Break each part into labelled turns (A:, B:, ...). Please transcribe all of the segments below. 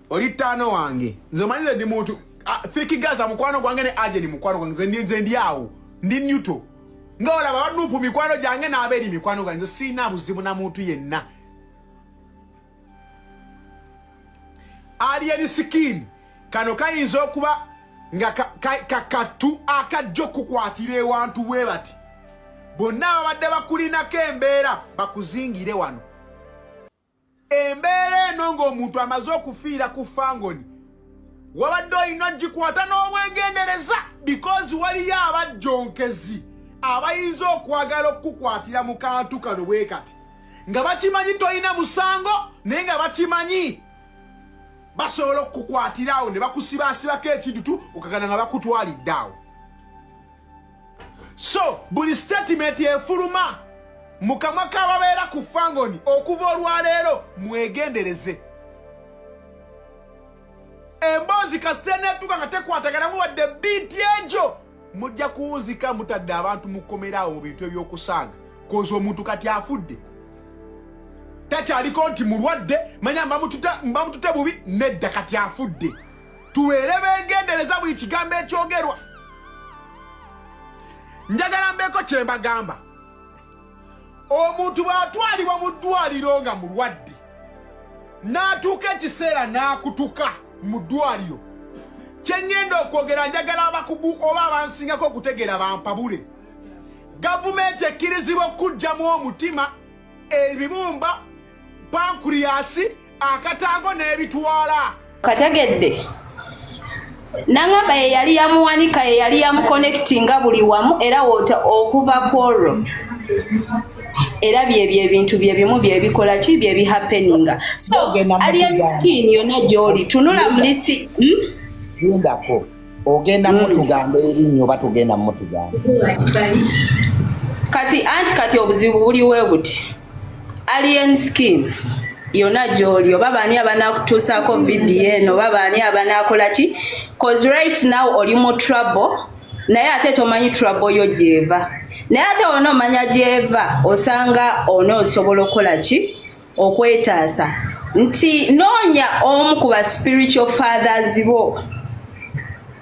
A: oli ttaano wange nze omanyire ndi muntu fikigaza mukwano gwange ne ajeni mukwano gwange nze ndi awo ndi nyuto nga olaba banupu mikwano gyange n'abeeri mikwano gwange nze siina buzibu na muntu yenna alien skin kano kayinza okuba nga kakattu akajja okukukwatira ewantu bwe bati bonna ababadde bakulinako embeera bakuzingire wano embeera eno ng'omuntu amaze okufiira ku fangoni wabadde olina ogikwata n'obwegendereza because waliyo abajjonkezi abayinza okwagala okukukwatira mu kantu kano bwe kati nga bakimanyi tolina musango naye nga bakimanyi basobola okukukwatira awo ne bakusibaasibako ekintu tu okakana nga bakutwalidde awo so buli statement efuluma mu kamwa k'ababeera ku fangoni okuva olwaleero mwegendereze emboozi kasita eneetuuka nga tekwataganamu wadde biiti egyo mujja kuwunzika mutadde abantu mukomeraawo mu bintu ebyokusaaga koza omuntu kati afudde takyaliko nti mulwadde manya mbamutute bubi nedda kati afudde tubeere begendereza buli kigambo ekyogerwa njagala mbeeko kye mbagamba omuntu bw'atwalibwa mu ddwaliro nga mulwadde n'atuuka ekiseera n'akutuka mu ddwaliro kye ŋŋenda okwogera njagala abakugu oba abansingako okutegeera bampabule gavumenti ekkirizibwa okukugyamu omutima ebibumba pankuriyasi akatango n'ebitwala kategedde
B: nangamba ye yali yamuwanika ye yali yamukonectinga buli wamu era wota okuva kwolwo era byebyo ebintu byebimu byebikola ki byebihapeninga so alien skin yona gyoli tunula mulisti lindako
C: hmm? ogenda hmm. mutugamba erinnyo oba tugenda mutugamba kati
B: anti kati obuzibu buliwe buti Alien Skin yona gyoli oba baani abanakutuusaako vidiyo eno oba baani abanaakola ki cause right now oli mu trouble naye ate tomanyi trouble yo gyeva naye ate ona omanya gyeva osanga ona osobola okukola ki okwetaasa nti noonya omu ku ba spiritual fathers bo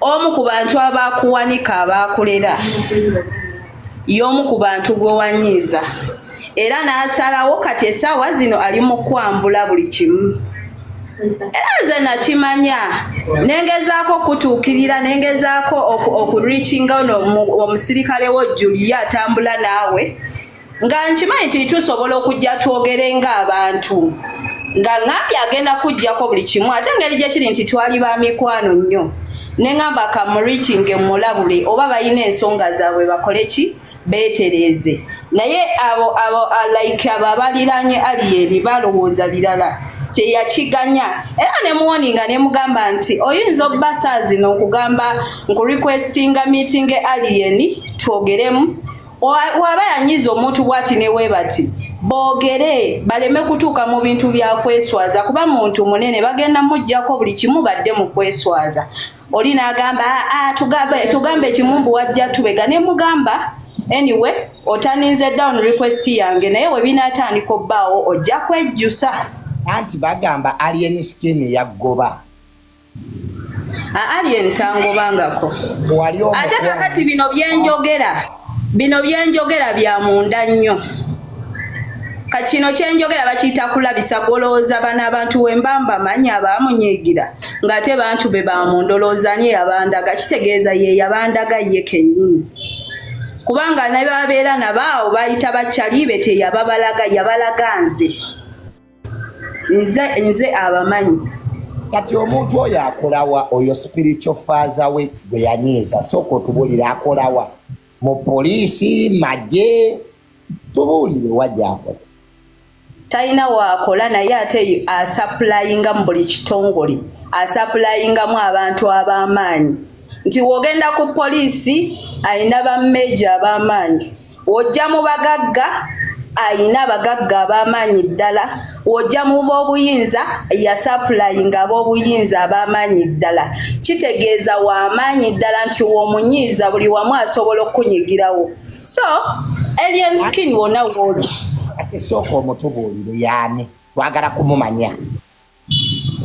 B: omu ku bantu abaakuwanika abaakulera y'omu ku bantu gwe wanyiiza era n'asalawo kati essaawa zino ali mu kwambula buli kimu era nze nakimanya nengezaako okutuukirira nengezaako okureachinga ono omusirikale wo julia atambula naawe nga nkimanyi nti tusobola okujja twogere ng'abantu nga ngambye agenda kujjako buli kimu ate engeri gye kiri nti twali ba mikwano nnyo ne ngamba kamuriki nge mulabule oba balina ensonga zaabwe bakole ki beetereeze naye abo abo like abo abaliranye aliyeni balowooza birala teyakiganya era ne muwoni nga ne mugamba nti oyinza obbasazino okugamba nkurequestinga meeting aliyeni twogeremu waba yanyiza omuntu bwati newebati boogere baleme kutuuka mu bintu bya kweswaza kuba muntu munene bagenda mujjako buli kimu badde mu kweswaza oli n'agamba ah, ah, tugambe ekimu mbu wajja tubega ne mugamba anyway otaninze down request yange naye we binaatandika obbaawo ojja kwejjusa anti
C: bagamba alien skin yaggoba
B: alien tangobangako ate kakati bino byenjogera bino byenjogera bya munda nnyo kakino kyenjogera bakiyita kulabisa golowooza bana abantu wembamba manyi abamunyigira ngaate bantu be bamundoloozani yabandaga kitegeeza ye yabandaga ye kenyini kubanga nababeera nabaawo bayita bakyali be teyababalaga yabalaga nze nze nze abamanyi kati
C: omuntu oyo akolawa oyo spiritual faza we gwe yanyiiza sooka otubulire akolawa mu poliisi magye tubuulire wajakola talina
B: waakola naye ate asapulayinga mu buli kitongole asapulayingamu abantu ab'amaanyi nti wogenda ku poliisi alina bammeeja ab'amaanyi ojja mu bagagga ayina abagagga ab'amaanyi ddala ojja mu b'obuyinza yasapulayinga ab'obuyinza ab'amaanyi ddala kitegeeza w'amaanyi ddala nti w'omunyiiza buli wamu asobola okukunyigirawo so alien skin wona wooli ate
C: sooka omutubuuliro yaani
B: twagala
C: kumumanya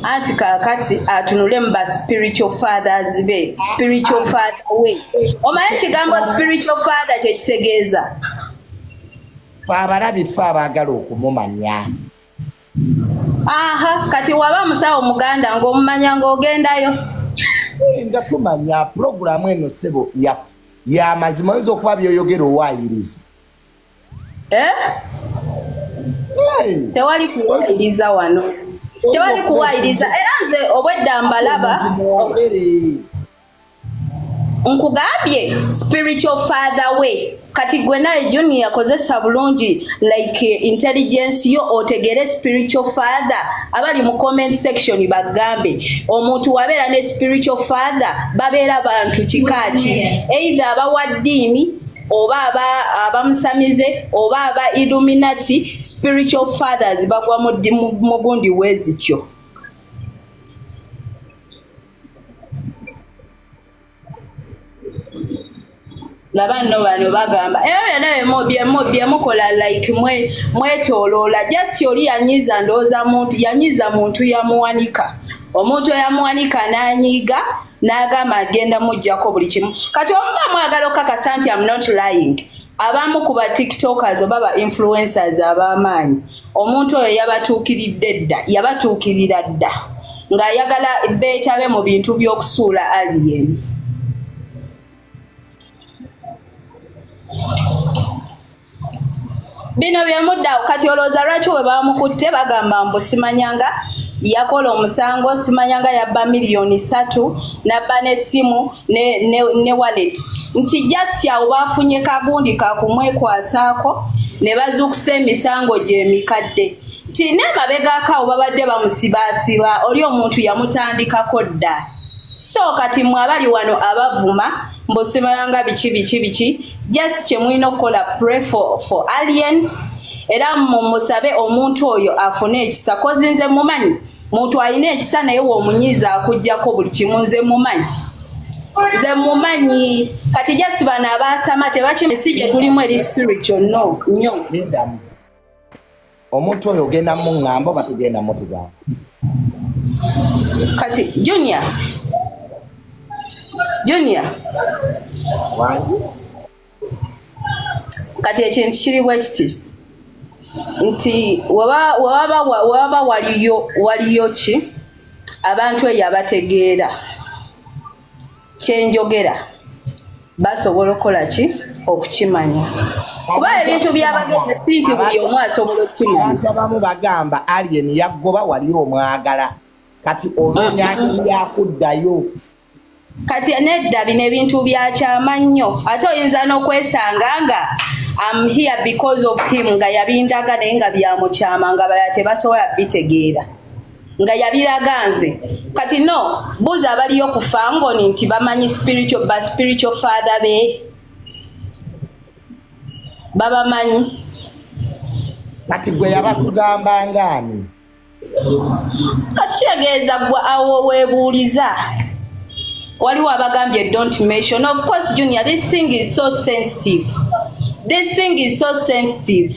B: anti kakati atunule mu ba spiritual fathers be spiritual father we omanyi ekigambo spiritual father kyekitegeeza fe
C: abalabi fe abaagala okumumanya aha
B: kati waba musawo muganda ngaomumanya ngaogendayo oyinza
C: kumanya pulogulaamu eno sebo yamazima oyinza okuba byoyogera owayiriza eh?
B: tewali kuwayiriza wano tewali kuwayiriza era nze obwedda mbalaba nkugambye spiritual father way kati gwe naye junior yakozesa bulungi like eh, intelligence yo otegere spiritual father abali mu comment section bagambe omuntu wabeera ne spiritual father babeera bantu kikaaki either abawa ddiini oba aba abamusamize oba aba illuminati spiritual fathers bagwa mu gundi wezityo laba nno bano bagamba ebyo eh, byonna byemukola like mwetoloola just oli yanyiiza ndowooza muntu yanyiiza muntu yamuwanika omuntu eyamuwanika n'anyiiga n'agamba agenda mujjako buli kimu kati omuba mwagala okukakasa nti am not lying abamu ku ba tiktokers oba ba influencers ab'amaanyi omuntu oyo yabatuukiridde dda yabatuukirira dda ng'ayagala beetabe mu bintu by'okusuula alien bino byemuddawo kati olowooza lwaki we bamukutte bagamba mbu simanyanga yakola omusango simanyanga yabba miliyoni satu nabba n'essimu ne, ne, ne wallet nti just awo bafunye kagundi kakumwekwasaako ne bazuukusa emisango gy'emikadde nti n'emabegako awo babadde bamusibaasiba oli omuntu yamutandikako dda so kati mwe abali wano abavuma mbusimalanga biki biki biki just kyemulina okukola pray for, for alien era mumusabe omuntu oyo afune ekisa kozi nze mumanyi muntu alina ekisa naye womunyiza akujjako buli kimu nze mumanyi nze mumanyi kati jasi bano abaasama tebakimesi gye tulimu eri spiritual no nyo
C: omuntu oyo ogenda mu ŋŋamba oba tugenda mu tugamba
B: kati junior junior wangi kati ekintu kiri bwe kiti nti wewaba waliyo waliyo ki abantu eyo abategeera kyenjogera basobola okukola ki okukimanya kuba ebintu byabagezi si nti buli omu asobola okukimanya abamu bagamba
C: alien yaggoba wali omwagala kati onoonya yakuddayo
B: kati nedda bino ebintu byakyama nnyo ate oyinza n'okwesanga nga am here because of him nga yabindaga naye nga byamukyama nga bala tebasobola bitegeera nga yabiraga nze kati no buuza abaliyo ku fangoni nti bamanyi spiritual ba spiritual father be babamanyi
C: kati gwe yabakugamba ngaani
B: kati kitegeeza gwe awo webuuliza waliwo abagambye don't mention of course junior this thing is so sensitive this thing is so sensitive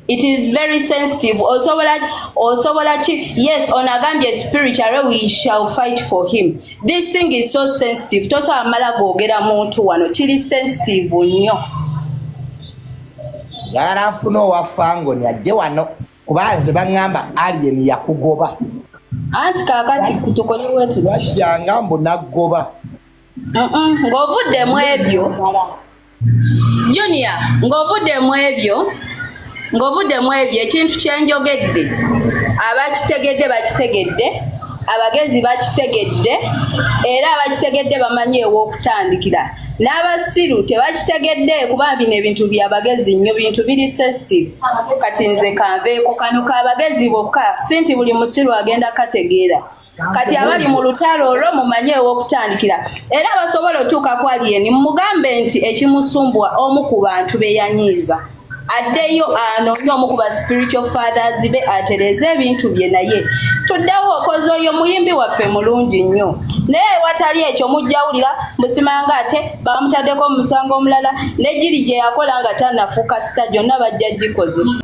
B: it is very sensitive osobola osobola ki yes ono agambye spiritually we shall fight for him this thing is so sensitive tosobola mala googera muntu wano kiri sensitive nnyo
C: yagala nfuna owafangoni ajje wano kuba nze baŋŋamba alien yakugoba anti
B: kakati tukolewetuti wajjanga mbu
C: naggoba ng'ovudde
B: mu ebyo junior ng'ovudde mu ebyo ng'ovudde mu ebyo ekintu kyenjogedde abakitegedde bakitegedde abagezi bakitegedde era abakitegedde bamanyi ew'okutandikira n'abasiru tebakitegedde kuba bino ebintu byabagezi nnyo bintu biri sensitive kati nze kanveeko kano kabagezi bokka si nti buli musiru agenda kategeera kati abali mu lutalo olwo mumanye ew'okutandikira era basobola otuuka ku aliyeni mumugambe nti ekimusumbwa omu ku bantu be yanyiiza addeyo anoonye omu ku ba spiritual fathers be atereeze ebintu bye naye tuddewo okoze oyo muyimbi waffe mulungi nnyo naye ewatali ekyo mujjawulira musimanga ate bamutaddeko omusango omulala ne giri gye yakola nga tanafuuka sita gyonna bajja gikozesa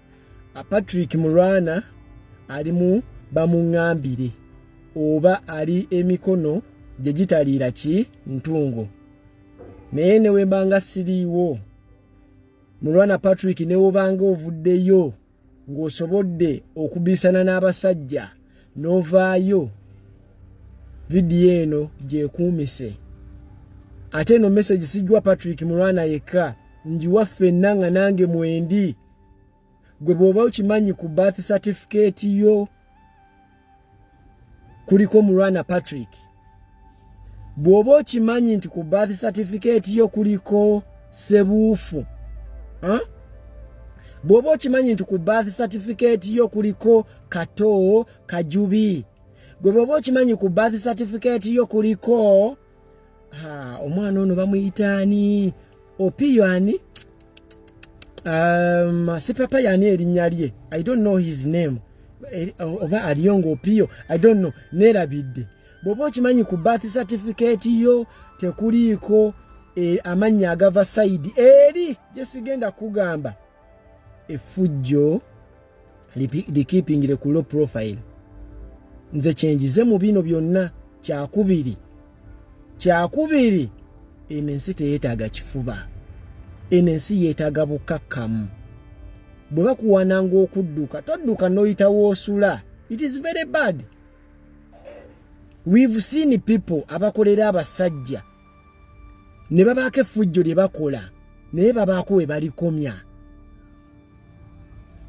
D: Patrick Mulwana ali mu bamungambire oba ali emikono gye gitaliira ki ntungo naye ne wembanga siriiwo Mulwana Patrick ne wobanga ovuddeyo ng'osobodde okubisana n'abasajja n'ovaayo vidiyo eno gyekuumise ate eno message sijwa Patrick Mulwana yekka njiwa ffenna nga nange mwendi gwe bwoba okimanyi ku birth certificate yo kuliko mulwana patrick bwoba okimanyi nti ku birth certificate yo kuliko sebuufu huh? bw'oba okimanyi nti ku birth certificate yo kuliko kato kajubi gwe bw'oba okimanyi ku birth certificate yo kuliko ha omwana ono bamuyita ani opiyo ani um, sipapa yani erinnya lye i don't know his name e, oba aliyo ngaopiyo i don't know nerabidde bwoba okimanyi ku bath certificate yo tekuliiko e, amannya agava saidi eri gyesigenda kugamba efujjo likipingire ku low profile nze kyenjize mu bino byonna kyakubiri kyakubiri eno ensi teyeetaaga kifuba eno ensi yeetaaga bukkakkamu bwe bakuwananga okudduka todduka n'oyitawo osula it is very bad we've seen people abakolera abasajja ne babaako effujjo lye bakola naye babaako we balikomya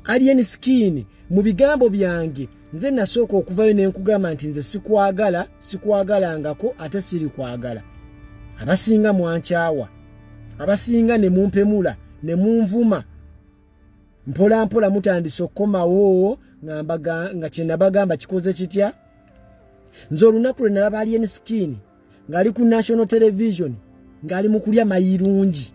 D: alien skin mu bigambo byange nze nasooka okuvayo nenkugamba nti nze sikwagala sikwagalangako ate siri kwagala abasinga mwankyawa abasinga ne mumpemula ne munvuma mpola mpola mutandise okukomawo nga kyenabagamba kikoze kitya nze olunaku lwe nalaba alien skin ng'ali ku national television ng'ali mu kulya mayirungi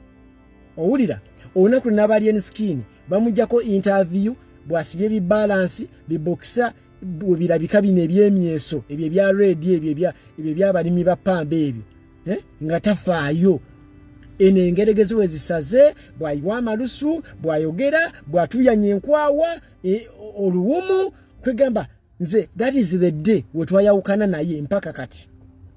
D: owulira olunaku lwe n'abalien skin bamugjako interview bw'asibye bibalansi bibokisa birabika bino ebyemyeso ebyo ebya redi ebyo ebyo ebyabalimi ba pamba ebyo eh? nga tafaayo eno engeregezi we zisaze bw'ayiwa amalusu bw'ayogera bw'atuyanya enkwawa e, oluwumu kwegamba nze that is the day wetwayawukana naye mpaka kati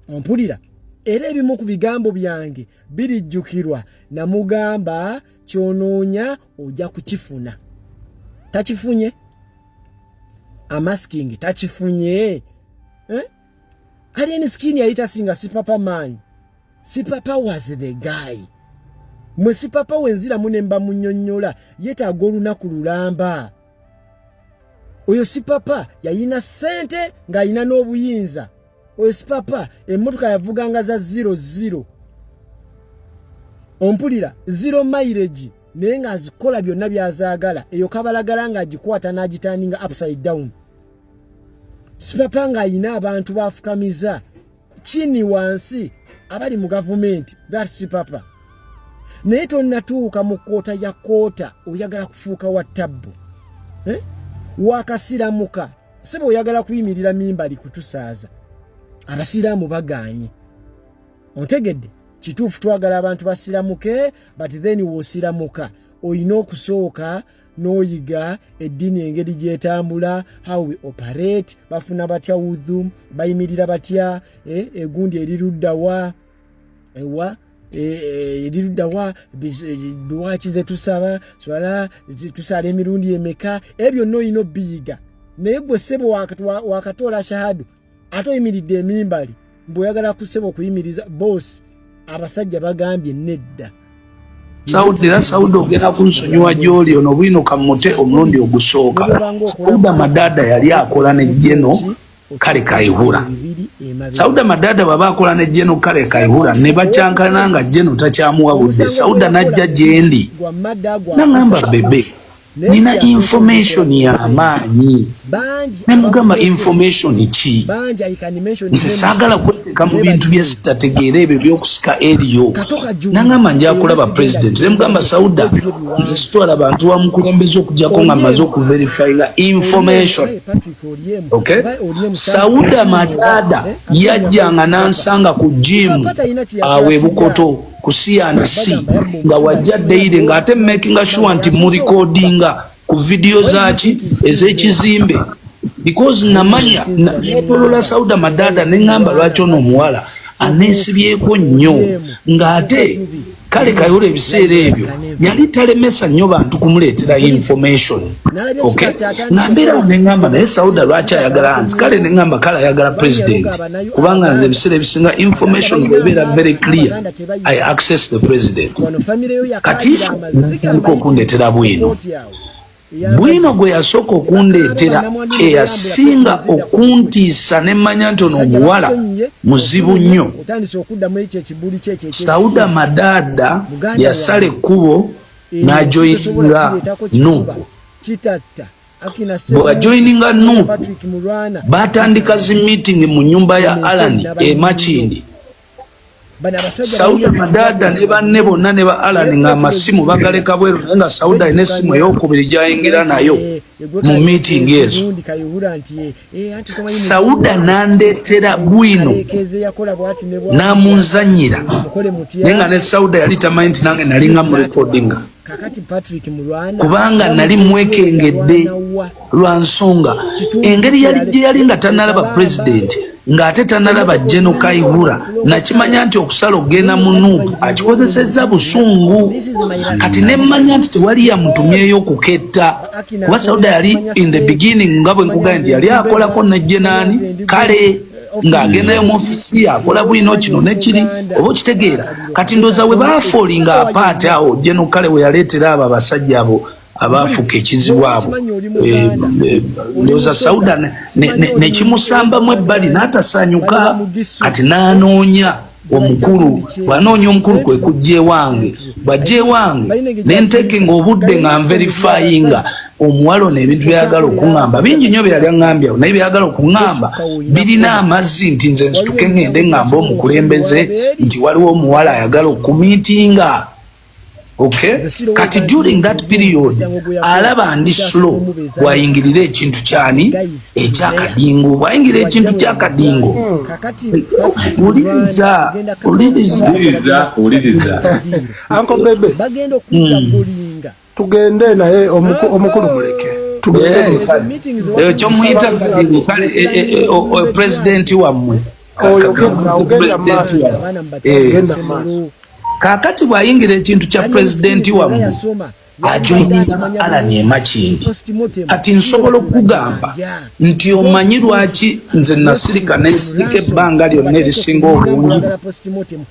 D: ompulira era ebimu ku bigambo byange birijjukirwa namugamba kyonoonya ojja kukifuna takifunye amasking takifunye eh? alien skin yali tasinga sipapa maanyi sipapa was the guy mwe sipapa wenziramu ne mbamunyonnyola yetaaga olunaku lulamba oyo si papa yayina sente ng'ayina n'obuyinza oyo si papa emmotoka yavuganga za ziro ziro ompulira ziro mairegi naye ng'azikola byonna byazaagala eyo kabalagala ng'agikwata n'agitandinga upside down si papa ng'ayina abantu baafukamiza kini wansi abali mu gavumenti that's papa naye tonatuuka mu koota ya koota oyagala kufuuka wa tabbu eh? wakasiramuka sebe oyagala kuyimirira mimbali kutusaaza abasiraamu baganye ontegedde kituufu twagala abantu basiramuke but then wosiramuka olina okusooka n'oyiga eddiini engeri gyetambula how we operate bafuna batya wudhu bayimirira batya eh, egundi eriruddawa ewa eriruddawa dwaki zetusaba swala tusala emirundi emeka ebyo byonna olina obiyiga naye gwe ssebo wakatoola shahadu ate oyimiridde emimbali mbu oyagala kuseba okuyimiriza boosi abasajja bagambye nedda saudi
E: era saudi ogenda kunsonyiwa gyoli ono bwinuka mute omulundi ogusooka sauda madada yali akola ne jeno kale kaihura sauda madada baba akola ne jeno kale kaihura ne bakyankana nga jeno takyamuwa budde sauda najja gyendi nangamba bebe nina information yamaanyi nemugamba information ki nze saagala kweteka mu bintu byesitategeera ebyo byokusika eriyo nangamba njakulaba president nemugamba sauda nze sitwala bantu wamukulembeza okujako nga maze okuverifyinga information ok sauda madada eh? yajjanga nansanga ku jimu awe bukoto kusiya nsi nga wajja daily nga ate making sure nti mu recordinga ku video zaki ezekizimbe because namanya netolola sauda madada nengamba lwaki ono omuwala anesibyeko nnyo nga ate kale kayole ebiseera ebyo yali talemesa nnyo bantu kumuleetera information ok nambeera awo neŋamba naye sauda lwaki ayagala nzi kale neŋamba kale ayagala president kubanga nze ebiseera ebisinga information ebeera very clear i access the president kati okundeetera bwino Bwino gwe yasooka okundeetera eyasinga okuntiisa ne mmanya nti ono omuwala muzibu nnyo. Sauda Madaada yasala ekkubo n'ajoyininga Nuupu. Bwe bajoyininga Nuupu, baatandika zi miitingi mu nnyumba ya Alani e Makindye. sauda madada ne banne bonna ne ba alan nga amasimu bagaleka bweru naye nga sauda alina essimu eyokubiri gyayingira nayo mu miitingi ezo sauda nandeetera bwino namunzanyira naye nga ne sauda yali tamanyi nti nange nalinga mu rekodinga kubanga nali mwekengedde lwa nsonga engeri yali gye yali nga tanalaba pulezidenti ng'ate tanalaba jeno kaihura nakimanya nti okusala okugenda mu nup akikozesezza busungu kati nemmanya nti tewali yamutumyeyo okuketta kuba sauda yali in the beginning nga bwe nkugambye yali akolako nejjenaani kale ng'agenda mu ofisi yakola bwino kino nekiri oba okitegeera kati ndoza we bafoolinga apaati awo jeno kale we yaleetera abo abasajja abo abaafuka ekizibu abo eh, eh, ndoza sauda nekimusambamu ebbali n'atasaanyuka kati n'anoonya omukulu bwanoonya omukulu kwe kujja ewange bwajja ewange ne nteeke ng'obudde nga nverifayinga omuwala ono ebintu byayagala okuŋŋamba bingi nnyo byeyali aŋŋambye awo naye byayagala okuŋŋamba birina amazzi nti nze nsituke ŋŋende ŋŋambe omukulembeze nti waliwo omuwala ayagala okumiitinga Okay. Kati during that period alaba ndi slow bwayingirira ekintu kyani ekyakadingo bwayingira ekintu kyakadingo uliriza
D: tugende naye
F: omukulu muleke tugende
E: eh, eh, eh, kale presidenti wammwe kakati bwayingira ekintu kya pulezidenti wamu ajoinalani emakindi kati nsobola okugamba nti omanyi lwaki nze nasirika nensirika ebbanga lyonna erisinga obungi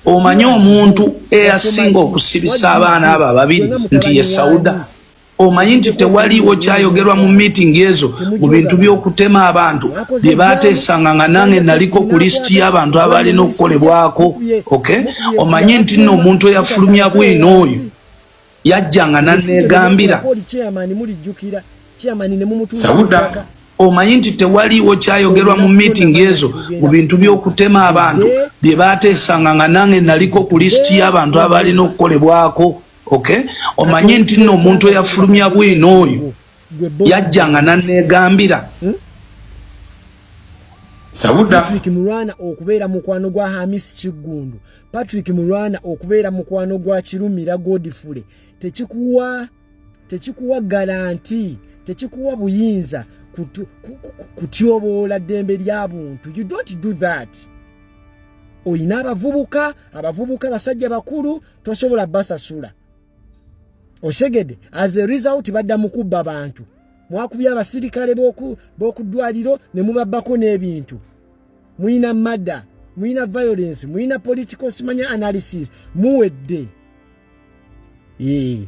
E: omanyi omuntu eyasinga okusibisa abaana abo ababiri nti ye sauda Omanyi nti tewaliiwo kyayogerwa mu miitingi ezo mu bintu by'okutema abantu bye baateesanga nga nange naliko ku lisiti y'abantu abaalina okukolebwako. Okay? Omanyi nti nno omuntu eyafulumya bwino oyo yajja nga nanneegambira. Sauda omanyi nti tewaliiwo kyayogerwa mu miitingi ezo mu bintu by'okutema abantu bye baateesanga nga nange naliko ku lisiti y'abantu abaalina okukolebwako. okay omanye nti nno omuntu eyafulumya bwino oyo yajjanga nanegambira hmm? patrick mulwana
D: okubeera mukwano gwa hamis kiggundu patrick mulwana okubeera mukwano gwa kirumira godfule tekikuwa tekikuwa garanti tekikuwa buyinza kutyoboola ddembe lya buntu you don't do that olina abavubuka abavubuka basajja bakulu tosobola basasula osegede as a result badda mukubba bantu mwakubya abasirikale b'okuddwaliro ne mubabbako n'ebintu mulina madda mulina violence mulina political simanya analysis muwedde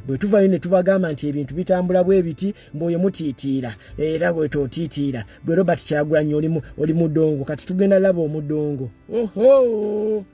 D: bwe tuvayo ne tubagamba nti ebintu bitambula bwe biti mboyo mutiitiira era bwe tootiitiira bwe robert kyagulanyi oli mudongo kati tugenda laba omudongo oho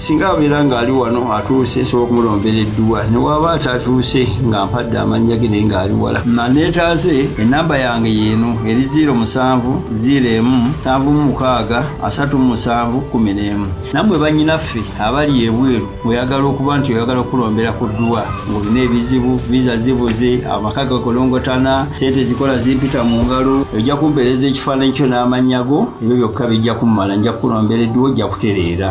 G: singa abeera ng'ali wano atuuse nsobola okumulombera edduwa newaaba atatuuse nga mpadde amannya ge naye ng'ali wala maneetaaze ennamba yange yeeno eri 0 musanvu 0 emu nsanvu mu mukaaga asatu mu musanvu kumi n'emu nammwe bannyinaffe abali ebweru oyagala okuba nti oyagala okulombera ku dduwa ng'olina ebizibu viza zibuze amaka gakolongotana sente zikola zimpita mu ngalo ojja kumpeereza ekifaananyi kyo n'amannya go ebyo byokka bijja kummala nja kukulombera edduwa ojja kutereera